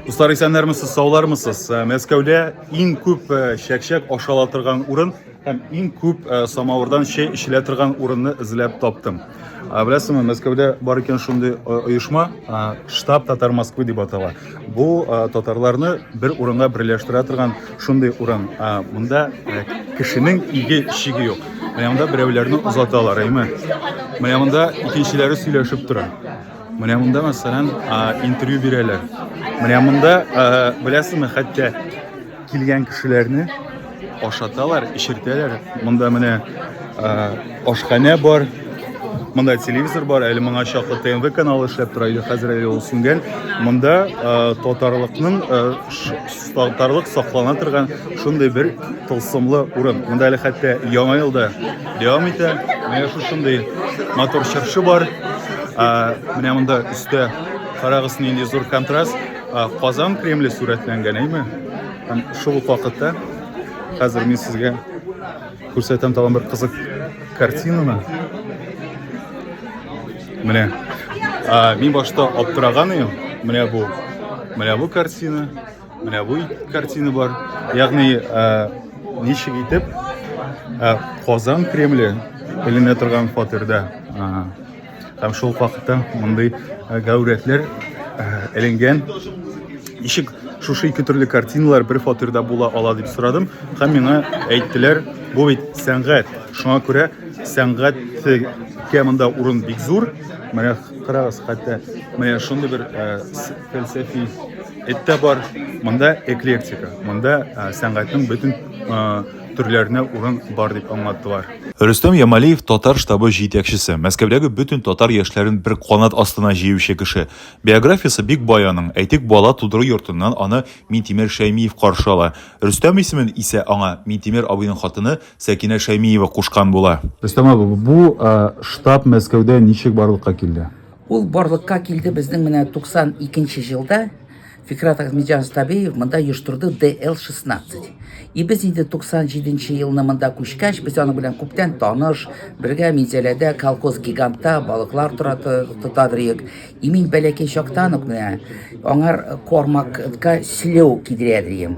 Дуслар, исәннәрмесез, саулармысыз? Э, Мәскәүдә иң күп э, чәкчәк ашала торган урын һәм иң күп э, самавырдан чәй эчелә торган урынны эзләп таптым. Беләсеңме, Мәскәүдә бар икән шундый оешма, штаб Татар Москвы дип атала. Бу татарларны бер урынга берләштерә торган шундый урын. Монда кешенең иге шиге юк. Менә монда берәүләрне озаталар, әйме? Менә монда икенчеләре сөйләшеп тора. Менә монда, мәсәлән, интервью бирәләр. Менә монда, беләсезме, хәтта килгән кешеләрне ашаталар, эчертәләр. Монда менә ашханә бар, Монда телевизор бар, әле моңа чаклы ТНВ каналы эшләп тора иде, хәзер әле ул сүнгән. Монда татарлыкның Сагтарлык саклана торган шундый бер тылсымлы урын. Монда әле хәтта яңа ел да дәвам итә. Менә шушындый матур чыршы бар. Менә монда өстә карагыз нинди зур контраст. Казан Кремле сурәтләнгән, әйме? Һәм шул ук вакытта хәзер мин сезгә күрсәтәм тагын бер кызык картинаны. Менә а, мин башта аптыраган идем. Менә бу. Менә бу картина, менә бу картина бар. Ягъни а, ничек итеп а, Казан Кремле эленә торган фатирда а, һәм шул вакытта мондый а, гәүрәтләр эленгән ничек шушы ике төрле картиналар бер фатирда була ала дип сорадым һәм миңа әйттеләр бу бит сәнгать шуңа күрә сәнгать Кә монда урын бик зур. Менә карагыз, хәтта менә шундый бер э, фәлсәфи эттә бар. Монда эклектика. Монда э, сәнгатьнең бөтен э, төрләренә урын бар дип аңлаттылар. Рөстәм Ямалиев татар штабы җитәкчесе, Мәскәүдәге бөтен татар яшьләрен бер канат астына җыючы кеше. Биографиясе бик бай аның. Әйтик, бала тудыру йортыннан аны Минтимер Шәймиев каршы ала. Рөстәм исемен исә аңа Минтимер абыйның хатыны Сәкинә Шәймиева кушкан була. Рөстәм абый, бу штаб Мәскәүдә ничек барлыкка килде? Ул барлыкка килде безнең менә 92 нче җылда Фикрат Ахмедҗан Стабеев монда оештырды ДЛ-16. И без инде 97 нче елны монда күчкәч, без аның белән күптән таныш, бергә Минзәләдә колхоз гигантта балыклар тора тотадырыйк. И мин бәләкәй чактан ук менә аңар кормакка селеу кидерә дием.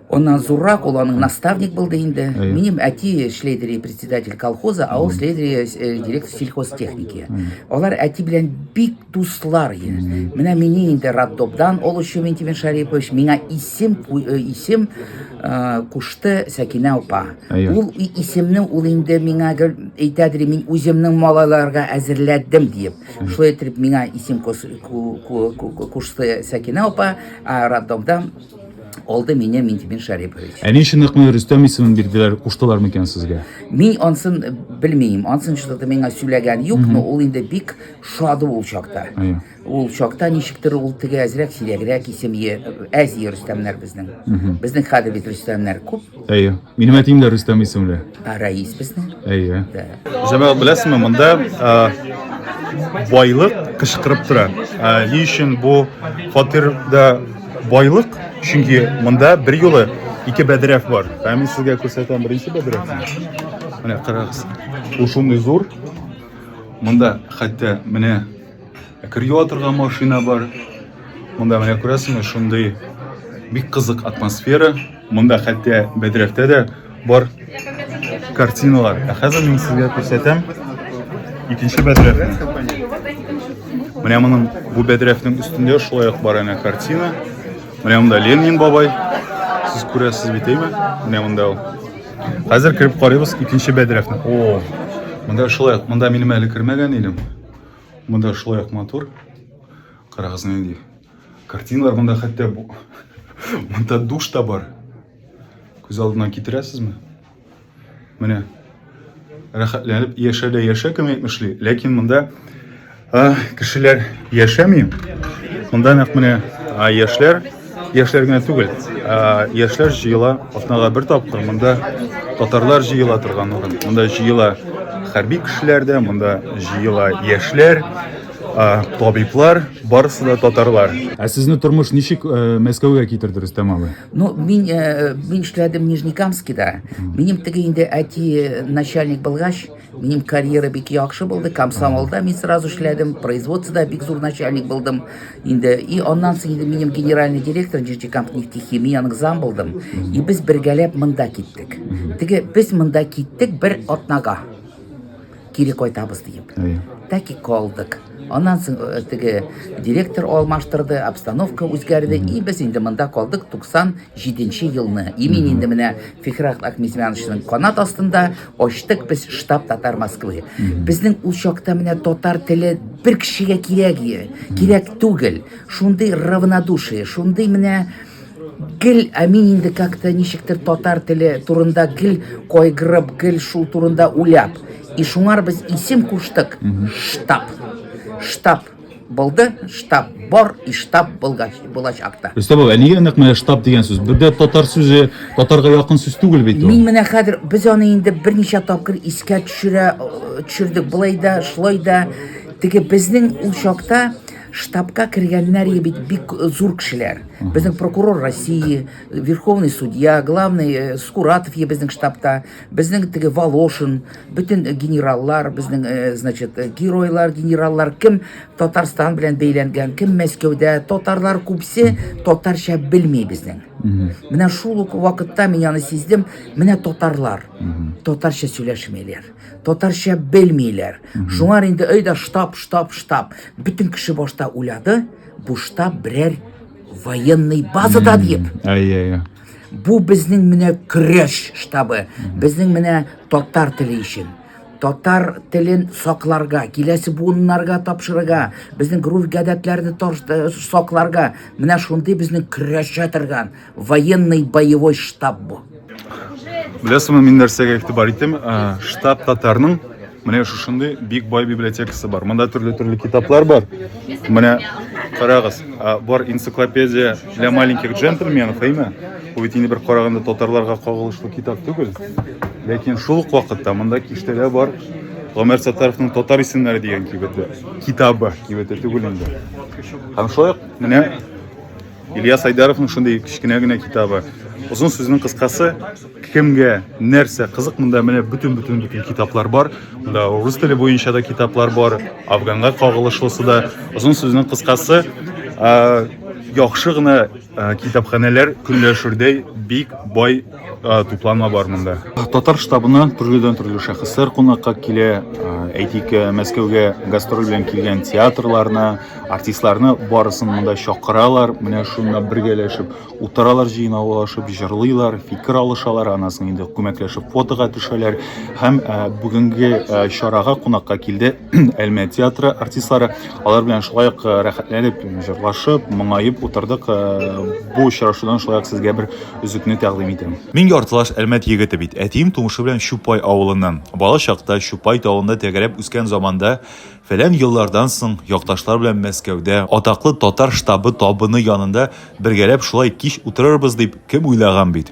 Она зуррак, ул аның наставник булды инде. Минем әти шлейдери председатель колхоза, а ул шлейдери э, директор сельхозтехники. Алар әти белән бик дуслар иде. Менә мине инде Раддобдан ул өчен Вентимир Шарипович миңа исем э, исем э, кушты Сәкинә апа. Ул исемне ул инде миңа әйтәдер, мин үземнең малайларга әзерләдем диеп. Шулай итеп миңа исем кушты Сәкинә апа, а Раддобдан Алды мине Минтимир Шәрипович. Ә ни өчен Ныкмый Рөстәм исемен бирделәр, куштылар микән сезгә? Мин ансын белмим. Ансын чыгып миңа сөйләгән юк, но ул инде бик шады ул чакта. Әйе. Ул чакта ничектер ул теге әзрәк сирәгрәк исем әз Рөстәмнәр безнең. Безнең хәзер бит Рөстәмнәр күп. Әйе. Минем әтием дә Рөстәм исемле. Ә Рәис безнең? Әйе. Дә. Җәмәгать беләсезме, монда ә, байлык кычкырып тора. Ә, ни өчен бу фатирда байлык? Чөнки монда бер юлы ике бәдрәф бар. Ә мин сезгә күрсәтәм беренче бәдрәфне. Менә карагыз. Ул шундый зур. Монда хәтта менә Кырю атырга машина бар. Монда менә күрәсеңме, шундый бик кызык атмосфера. Монда хәтта бәдрәфтә дә бар картиналар. Ә хәзер мин сезгә күрсәтәм икенче бәдрәфне. Менә моның бу бәдрәфнең өстендә шулай ук бар әнә картина. Менә монда Ленин бабай. Сез күрәсез бит, әйме? Менә монда ул. Хәзер кереп карыйбыз икенче бәдрәфне. О, монда шулай ук, монда минем әле кермәгән идем. Монда шулай ук матур. Карагыз нинди картиналар монда хәтта монда душ та бар. Күз алдына китерәсезме? Менә рәхәтләнеп яшә дә яшә кем әйтмешли, ләкин монда кешеләр яшәми. Монда нәкъ менә яшьләр Яшьләр генә түгел, ә, яшьләр җыела атнага бер тапкыр. Монда татарлар җыела торган урын. Монда җыела хәрби кешеләр дә, монда җыела яшьләр, ә, табиблар, барысы да татарлар. Ә сезне тормыш ничек э, Мәскәүгә китерде Рөстәм абый? Ну, мин, э, мин эшләдем Нижнекамскида. Минем теге инде әти начальник булгач, Минем карьера бик яхшы булды. Комсомолда мин сразу эшләдем, производствода бик зур начальник булдым. Инде и аннан соң инде минем генеральный директор Джичикамп нефтехимияның зам булдым. И без бергәләп монда киттек. Теге без монда киттек бер атнага. Кире кайтабыз диеп. Так и калдык. Аннан соң э, теге директор алмаштырды, обстановка үзгәрде, и без инде монда калдык 97 елны. И мин инде менә Фихрат Акмизмяновичның канат астында, Ачтык без штаб татар Москвы. Безнең ул чакта менә татар теле бер кешегә кирәк, кирәк түгел. Шундый равнодушие, шундый менә гел ә мин инде как-то ничектер татар теле турында гел кайгырып гел шул турында уйлап и шуңар без исем куштык штаб штаб булды, штаб бар и штаб булгач, булачак та. Рөстәм абый, ә нигә нәкъ менә штаб дигән сүз? Бер дә татар сүзе, татарга якын сүз түгел бит ул. Мин менә хәзер без аны инде берничә тапкыр искә төшерә э, төшердек. Болай да, шулай да теге безнең ул чакта штабка кергәннәр иде бит бик зур кешеләр. Безнең прокурор России, верховный судья, главный э, Скуратов е безнең штабта, безнең теге Волошин, Бөтен генераллар, безнең, э, значит, э, геройлар, генераллар кем Татарстан белән бәйләнгән, кем Мәскәүдә, татарлар күпсе татарча белми безнең. Менә шул ук вакытта мин аны сиздем, менә татарлар татарча сөйләшмиләр, татарча белмиләр. Шуңар инде өйдә штаб, штаб, штаб. Бөтен кеше башта уйлады, бу штаб берәр военный базада диеп. Әйе, әйе. Бу безнең менә көрәш штабы, безнең менә татар теле өчен. Татар телен сакларга, киләсе буыннарга тапшырырга, безнең грув гадәтләрне э, сакларга, менә шундый безнең көрәшә торган военный боевой штаб бу. Беләсеңме, мин нәрсәгә игътибар итәм? Э, штаб татарның Менә шушындый бик бай библиотекасы бар. Монда төрле-төрле китаплар бар. Менә карагыз, бар энциклопедия для маленьких джентльменов, әйме? Бу бит инде бер караганда татарларга кагылышлы китап түгел. Ләкин шул ук вакытта монда киштәдә бар Гомәр Саттаровның татар исемнәре дигән кибете. Китабы, кибете түгел инде. Һәм шулай ук менә Илья Сайдаровның шундый кечкенә генә китабы. Озын сүзнең кыскасы, кемгә нәрсә кызык, монда менә бөтен-бөтен бөтен китаплар бар. Монда рус теле буенча да китаплар бар, афганга кагылышлысы да. Озын сүзнең кыскасы, яхшы гына китапханәләр көнләшүдәй бик бай тупланма бар монда. Татар штабына төрледән төрле шәхесләр кунакка килә. Әйтик, Мәскәүгә гастроль белән килгән театрларны, артистларны барысын монда чакыралар. Менә шунда бергәләшеп утыралар, җыйналышып җырлыйлар, фикер алышалар, анасын инде күмәкләшеп фотога төшәләр. Һәм бүгенге чарага кунакка килде Әлмәт театры артистлары алар белән шулай ук э, рәхәтләнеп җырлашып, моңаеп утырдык. Э, бу очрашудан шулай ук сезгә бер үзекне тәкъдим итәм. Мин яртылаш Әлмәт егете бит. Әтием тумышы белән Чупай авылыннан. Бала чакта Чупай тавында тәгәрәп үскән заманда фәлән еллардан соң якташлар белән Мәскәүдә атаклы татар штабы табыны янында бергәләп шулай кич утырырбыз дип кем уйлаган бит.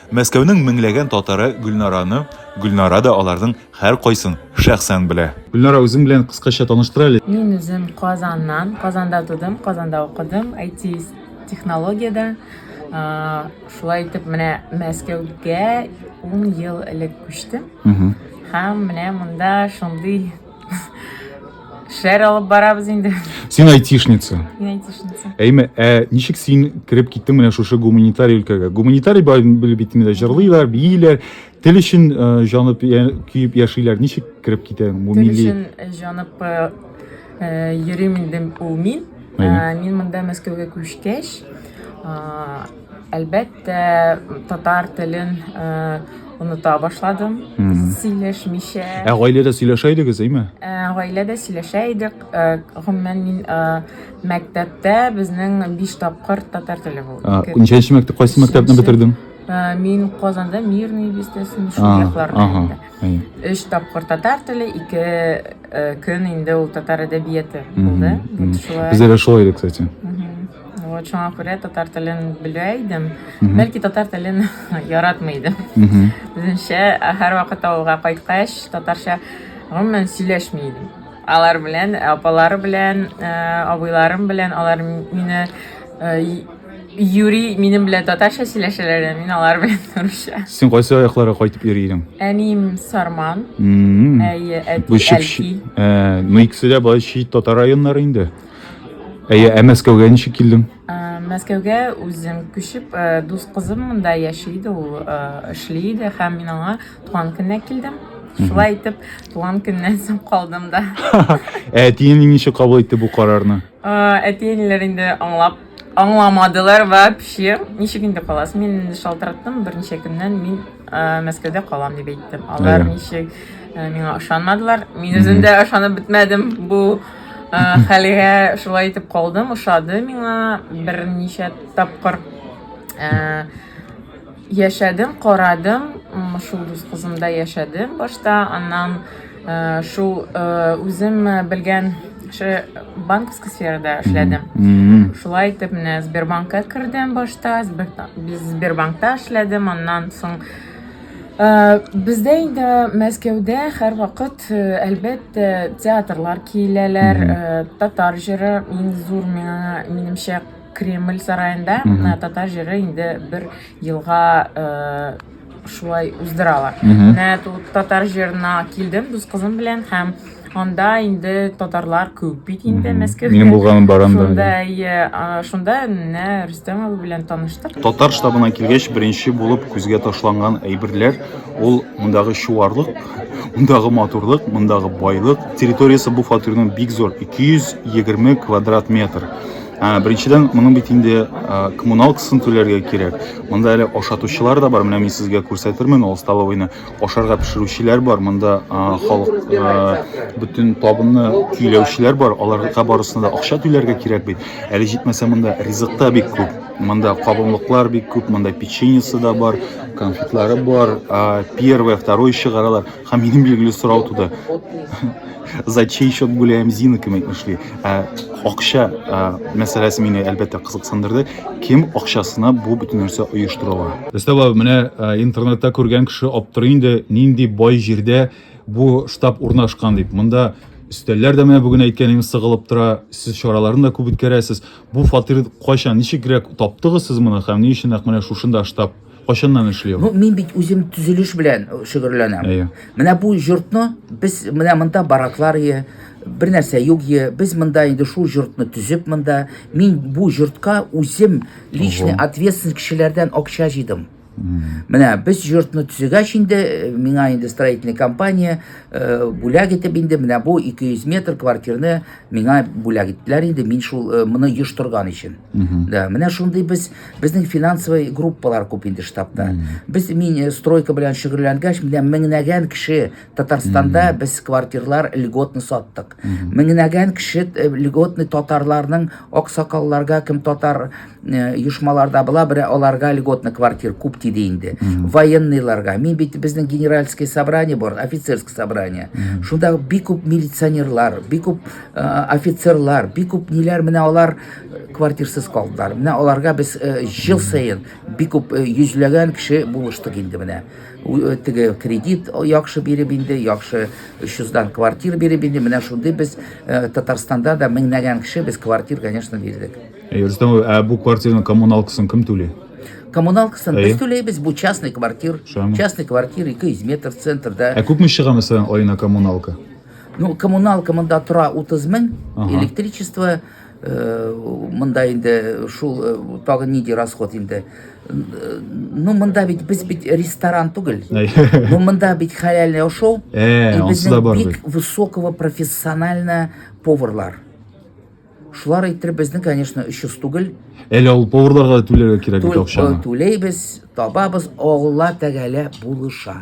Мәскәүнең меңләгән татары Гөлнараны, Гөлнара да аларның һәркайсын шәхсән белә. Гөлнара, үзең белән кыскача таныштыр әле. Мин үзем Казаннан, Казанда тудым, Казанда укыдым, IT-технологиядә. Шулай итеп, менә Мәскәүгә ун ел элек күчтем. Һәм менә монда шундый Шәр алып барабыз инде. Син айтишница. Мин айтишница. Әйме, ә ничек син кереп киттең менә шушы гуманитарий өлкәгә? Гуманитарий белеп бит инде җырлыйлар, бииләр, тел өчен э, җанып көеп яшиләр. Ничек кереп китәң бу милли? Тел өчен э, җанып э, йөрим инде ул мин. Мин монда Мәскәүгә күчкәч, Әлбәттә, татар телен э, оныта башладым, сөйләшмичә. Ә гаиләдә сөйләшә идегез, әйме? Э, Гаиләдә сөйләшә идек. Э, Гомумән мин э, мәктәптә безнең биш тапкыр татар теле булды. А, Ике- Ничәнче мәктәп, кайсы мәктәпне Өченче. бетердең? Э, Мин Казанда Мирный бистәсен шул А, якларда. Ага. инде. әйе. Өч тапкыр татар теле, ике э, көн инде ул татар әдәбияты булды. Мгм. Вот шулай. Бездә дә шулай иде, кстати. Мгм. Вот шуңа күрә татар телен белә идем. Бәлки татар телен яратмый идем. Үземчә һәр вакыт авылга кайткач, татарча гомумән сөйләшми идем. Алар белән, апалары белән, э, абыйларым белән, алар мине э, юри минем белән татарча сөйләшәләр, мин алар белән русча. Син кайсы аякларга кайтып йөри идең? Әнием Сарман, әйе, әти Әлки. Э, ну икесе дә бай чит татар районнары инде. Әйе, ә Мәскәүгә ничек килдең? Ә, Мәскәүгә үзем күчеп, ә, дус кызым монда яши иде, ул ә, эшли иде һәм мин аңа туган көненә килдем. Шулай итеп, туган көннән соң калдым да. Ә әтиең ничек кабул итте бу карарны? Ә, Әти-әниләр инде аңлап Аңламадылар вообще. Ничек инде каласыз? Мин инде шалтыраттым, берничә көннән мин ә, Мәскәүдә калам дип әйттем. Алар Әйе. ничек ә, миңа ышанмадылар. Мин үзем дә ышанып бетмәдем бу ә, хәлгә. Шулай итеп калдым, ошады миңа берничә тапкыр. Ә, Яшәдем, карадым, шул дус кызымда яшәдем башта, аннан э, шул э, үзем белгән кеше банковский сферада эшләдем. Шулай итеп менә Сбербанкка кердем башта, Сбербанкта эшләдем, аннан соң Э, бездә инде мәскәүдә һәр вакыт э, әлбәттә театрлар киләләр э, татар җыры иң зур миңа минемчә Кремль сараенда менә татар җыры инде бер елга шулай уздыралар. Менә тут татар җырына килдем дус кызым белән һәм анда инде татарлар күп бит инде Мәскәүдә. Минем булганым бар анда. Шунда иә, шунда менә Рөстәм абый белән таныштык. Татар штабына килгәч, беренче булып күзгә ташланган әйберләр ул мондагы чуарлык, мондагы матурлык, мондагы байлык. Территориясе бу фатирның бик зур, 220 квадрат метр. Ә, беренчедән, моның бит инде коммуналкасын түләргә кирәк. Монда әле ашатучылар да бар. Менә мин сезгә күрсәтермен ул столовыйны. Ашарга пешерүчеләр бар. Монда халык бөтен табынны көйләүчеләр бар. Аларга барысына да акча түләргә кирәк бит. Әле җитмәсә монда ризык та бик күп. Монда кабымлыклар бик күп, монда печеньесы да бар, конфетлары бар, первое, второе чыгаралар. Һәм минем билгеле сорау туды. За чей счет гуляем с Зинками эшли? Ә, акча ә, мәсьәләсе мине әлбәттә кызыксындырды. Кем акчасына бу бөтен нәрсә оештырыла? Өстәвә менә ә, интернетта күргән кеше аптырый инде, нинди бай җирдә бу штаб урнашкан дип. Монда өстәлләр дә менә бүген әйткәнем сыгылып тора. Сез чараларны да күп үткәрәсез. Бу фатир кайчан, ничегрәк таптыгыз сез моны һәм ни өчен нәкъ менә шушында штаб Кайчаннан эшли ул? Ну, мин бит үзем төзелеш белән э, шөгерләнәм. Әйе. Менә бу йортны без менә монда бараклар ие, бер нәрсә юк ие. Без монда инде шул йортны төзеп монда. Мин бу йортка үзем личный Ого. ответственность кешеләрдән акча җыйдым. Менә без йортны төзегәч инде, э, миңа инде строительный компания э, бүләк итеп инде менә бу 200 метр квартирны миңа бүләк иттеләр инде, мин шул э, моны йоштырган өчен. Да, менә шундый без Безнең финансовый группалар күп инде штабта. Без мин э, стройка белән шөгыльләнгәч, менә меңнәгән кеше Татарстанда без квартирлар льготны саттык. Меңнәгән кеше э, льготны татарларның аксакалларга, кем татар э, оешмаларда була, бирә аларга льготны квартир күп тиде инде. Военныйларга. Мин бит безнең генеральский собрание бар, офицерский собрание. Шунда бик күп милиционерлар, бик күп э, офицерлар, бик күп ниләр менә алар квартирсыз калдылар. Менә аларга без ел саен бик күп йөзләгән кеше булыштык инде менә. Теге кредит яхшы биреп инде, яхшы 300-дан квартир биреп инде. Менә шундый без Татарстанда да меңнәгән кеше без квартир, конечно, бирдек. Рөстәм, ә бу квартирның коммуналкасын кем түли? Коммуналкасын без түләйбез, бу частный квартир. Частный квартир 200 метр центрда. Ә күпме чыга мәсәлән аена коммуналка? Ну, коммуналка монда тора 30 мең, электричество Э, мында инде э, шул э, тагын нинди расход инде ну мында бит без бит ресторан түгел ну мында бит хәләлне ашау и безнең бик высокого профессионально поварлар шулар әйтер безнең конечно өч йөз түгел әле ул поварларга түләргә кирәк бит акчаны түләйбез табабыз алла тәгалә булыша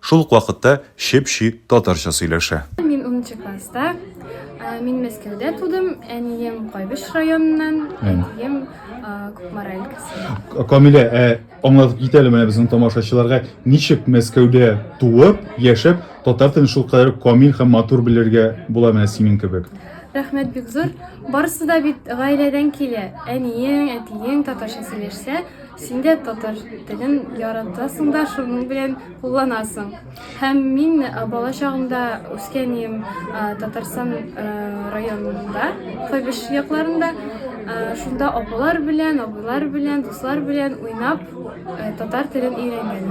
Шул ук вакытта чеп-чи татарча сөйләшә. Мин 10 класста. Ә, мин Мәскәүдә тудым. Әнием Кайбыч районыннан, әтием Кукмара өлкәсе. Камилә, ә аңлатып кит әле менә безнең тамашачыларга, ничек Мәскәүдә туып, яшәп, татар телен шул кадәр камил һәм матур белергә була менә синең кебек? Рәхмәт бик зур. Барысы да бит гаиләдән килә. Әниең, әтиең татарча сөйләшсә, Син дә татар телен яратасың да, шуның белән кулланасың. Һәм мин бала чагымда үскән идем Татарстан районында, Хәбиш якларында. Шунда апалар белән, абыйлар белән, дуслар белән уйнап татар телен өйрәнгән.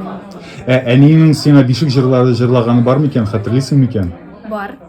Ә әниеңнең сиңа бишек җырлары җырлаганы бар микән, хәтерлисең микән? Бар.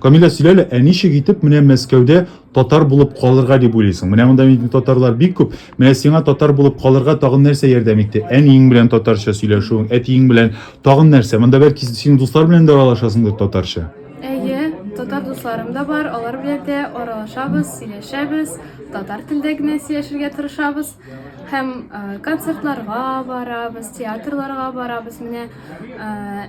Камилә, сөйлә әле, ә ничек итеп менә Мәскәүдә татар булып калырга дип уйлыйсың? Менә монда бит татарлар бик күп. Менә сиңа татар булып калырга тагын нәрсә ярдәм итте? Әниең белән татарча сөйләшүең, әтиең белән тагын нәрсә? Монда бәлки син дуслар белән дә аралашасыңдыр татарча? Әйе, татар дусларым да бар, алар белән дә аралашабыз, сөйләшәбез, татар телдә генә сөйләшергә тырышабыз. Һәм э, концертларга барабыз, театрларга барабыз. Менә э,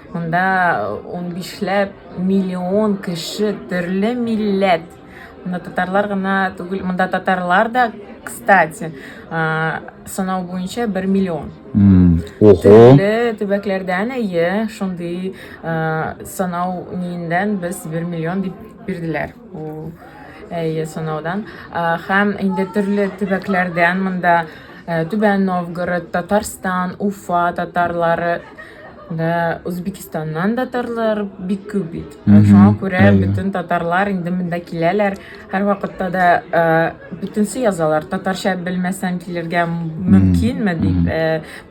Монда унбишләп миллион кеше, төрле милләт. Монда татарлар гына түгел, монда татарлар да, кстати, санау буенча 1 миллион. Ого. Төрле төбәкләрдән әйе, шундый санау ниендән без 1 миллион дип бирделәр. Әйе, санаудан. Һәм инде төрле төбәкләрдән монда Түбән Новгород, Татарстан, Уфа татарлары Да, Үзбекстаннан да татарлар бик күп бит. Шуңа күрә бөтен татарлар инде монда киләләр. Һәрвакытта да бөтенсе язалар. Татарча белмәсәң килергә мөмкинме дип.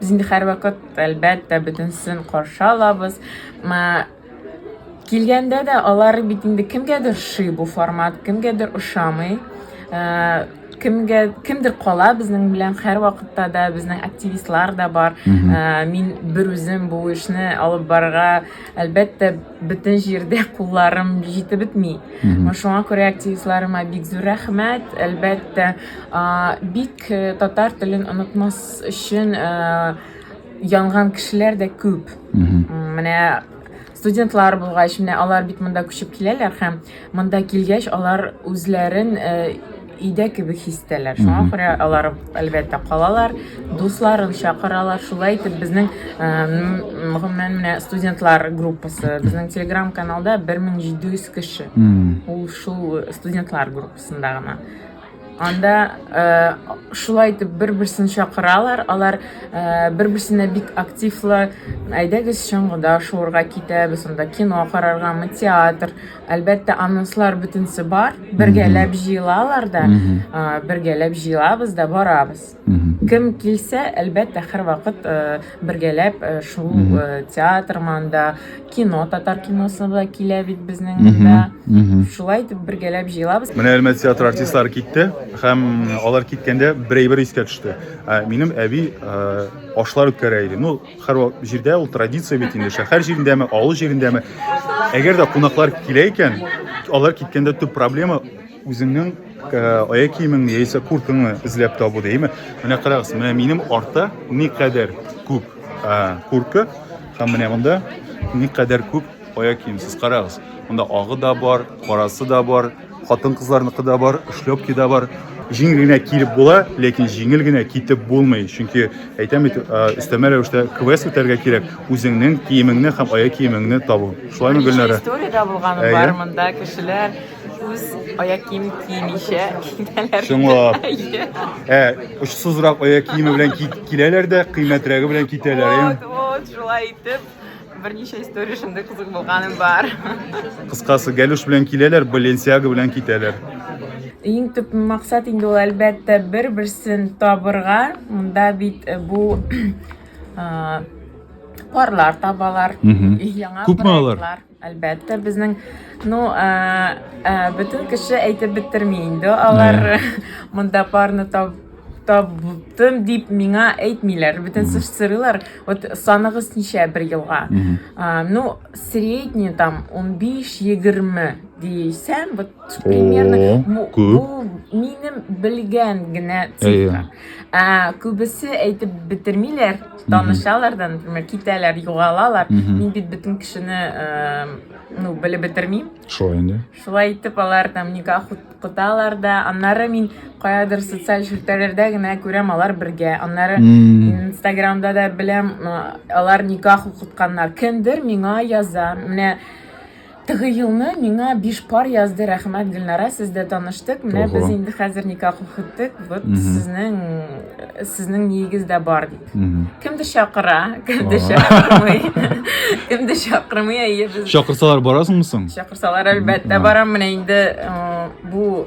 Без инде һәрвакыт әлбәттә бөтенсен каршы алабыз. Килгәндә дә алар бит инде кемгәдер ши бу формат, кемгәдер ошамый. Э, кемгә кемдер кала безнең белән һәр вакытта да безнең активистлар да бар ә, мин бер үзем бу эшне алып барырга әлбәттә бөтен җирдә кулларым җитеп бетми шуңа күрә активистларыма бик зур рәхмәт әлбәттә ә, бик э, татар телен онытмас өчен ә, янган кешеләр дә күп. Менә студентлар булгач, менә алар бит монда күчеп киләләр һәм монда килгәч алар үзләрен э, өйдә кебек хис итәләр. Шуңа күрә алар әлбәттә калалар, дусларын чакыралар. Шулай итеп безнең э, гомумән менә студентлар группасы, безнең Telegram каналда 1700 кеше. Ул шул студентлар группасында гына. Анда шулай итеп бер-берсен чакыралар. Алар бер-берсенә бик активлы. Әйдәгез чыңгыда шуырга китәбез, анда кино караргамы, театр. Әлбәттә, анонслар бөтенсе бар. Бергәләп җыелалар да, бергәләп җыелабыз да барабыз. Кем килсә, әлбәттә, һәрвакыт э, бергәләп э, шул э, театр манда, кино, татар киносы да килә бит безнең монда. Шулай итеп бергәләп җыелабыз. Менә Әлмәт театры артистлары китте һәм алар киткәндә бер әйбер искә төште. Ә, Минем әби ә, ашлар үткәрә иде. Ну, һәр вак- җирдә ул традиция бит инде. Шәһәр җирендәме, авыл җирендәме. Әгәр дә кунаклар килә икән, алар киткәндә төп проблема Үзеңнең аяк киемеңне яисә курткаңны эзләп табу дияме? Менә карагыз, менә минем артта никадәр күп куртка һәм менә монда никадәр күп аяк кием. Сез карагыз, монда агы да бар, карасы да бар, хатын-кызларныкы да бар, шлепки да бар. Җиңел генә килеп була, ләкин җиңел генә китеп булмый, чөнки әйтәм бит, өстәмә рәвештә квест үтәргә кирәк, үзеңнең киемеңне һәм аяк киемеңне табу. Шулаймы, Гөлнара? История дә булган бар монда кешеләр Үз аяк киемен киемичә китәләр. Чынлап. Ә, очсызрак аяк киеме белән кит- киләләр дә, кыйммәтрәге белән китәләр. Вот, эм. вот, шулай итеп берничә история шундый кызык булганым бар. Кыскасы, Галюш белән киләләр, Баленсиага белән китәләр. Иң төп максат инде ул әлбәттә бер-берсен табырга. Монда бит э, бу а, парлар табалар. Мгм. Яңа Күпме алар? проектлар. Әлбәттә, безнең, ну, ә, ә, бөтен кеше әйтеп бетерми инде. Алар yeah. монда парны таб, табтым дип миңа әйтмиләр. Бөтен mm. сырылар. Вот саныгыз ничә бер елга. Mm -hmm. а, ну, средний там 15-20 дисәм, вот примерно oh, бу, бу минем белгән генә цифра. Yeah. Ә, күбесе әйтеп бетермиләр. танышалар да, например, китәләр, югалалар. Мин бит бөтен кешене, э, ну, белеп бетермим. Шулай инде. Шулай итеп алар там никах куталар да. Аннары мин каядыр социаль челтәрләрдә генә күрәм алар бергә. Аннары Инстаграмда да беләм, э, алар никах укытканнар. Кемдер миңа яза. Менә Теге елны миңа биш пар язды, рәхмәт, Гөлнара, сез дә таныштык. Менә Ого. без инде хәзер никах укыттык. Вот Мгм. сезнең сезнең ниегез дә бар дип. Мгм. Кемдер чакыра, кемдер Ага. чакырмый. Кемдер чакырмый, әйе без Чакырсалар барасыңмы соң? чакырсалар әлбәттә Ага. барам. Менә инде э, бу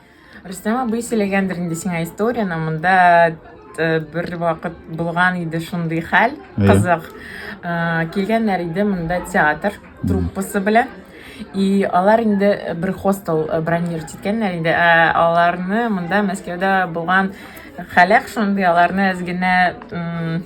Рөстәм абый сөйләгәндер инде сиңа историяне, монда э, бер вакыт булган иде шундый хәл, Әйе. кызык. Э, Килгәннәр иде монда театр труппасы белән. И алар инде э, бер хостел э, бронировать иткәннәр инде. Ә аларны монда Мәскәүдә булган халәк шундый, аларны әз генә м,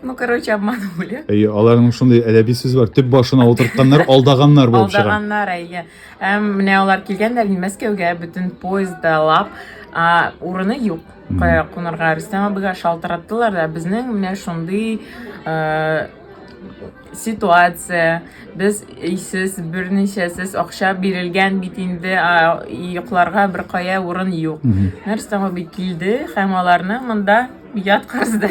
ну, короче, обманули. Әйе, аларның шундый әдәби сүз бар. Төп башына утыртканнар, алдаганнар булып чыга. Алдаганнар, әйе. Әм, менә алар килгәннәр ин Мәскәүгә, бөтен поездда лап, а, урыны юк. Кая кунарга? Рөстәм абыйга шалтыраттылар да, безнең менә шундый э, ситуация. Без өйсез, берничәсез, акча бирелгән бит инде, а, йокларга бер кая урын юк. Менә Рөстәм абый килде һәм аларны монда яткызды.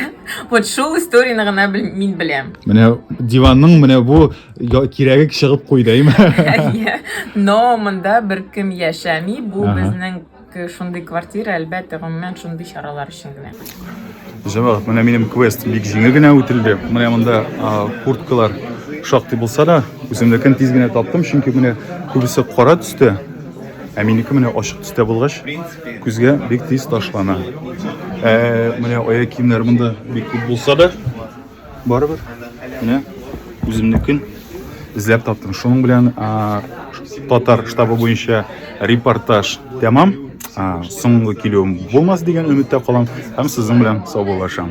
Вот шул историяне гына бел- мин беләм. Менә диванның менә бу Я, кирәге чыгып куйдайм. Әйе. Но монда беркем яшәми. Бу Ага. безнең к- шундый квартира, әлбәттә, гомумән шундый чаралар өчен генә. Җәмәгать, менә минем квест бик җиңел генә үтелде. Менә монда а, курткалар шактый булса да, үземнекен тиз генә таптым, чөнки менә күбесе кара төстә, ә минеке менә ачык төстә булгач, күзгә бик тиз ташлана. Ә, менә аяк киемнәр монда бик күп булса да, барыбер менә үземнекен эзләп таптым шуның белән татар штабы буенча репортаж тәмам соңгы килүем булмас дигән өметтә калам һәм сезнең белән саубуллашам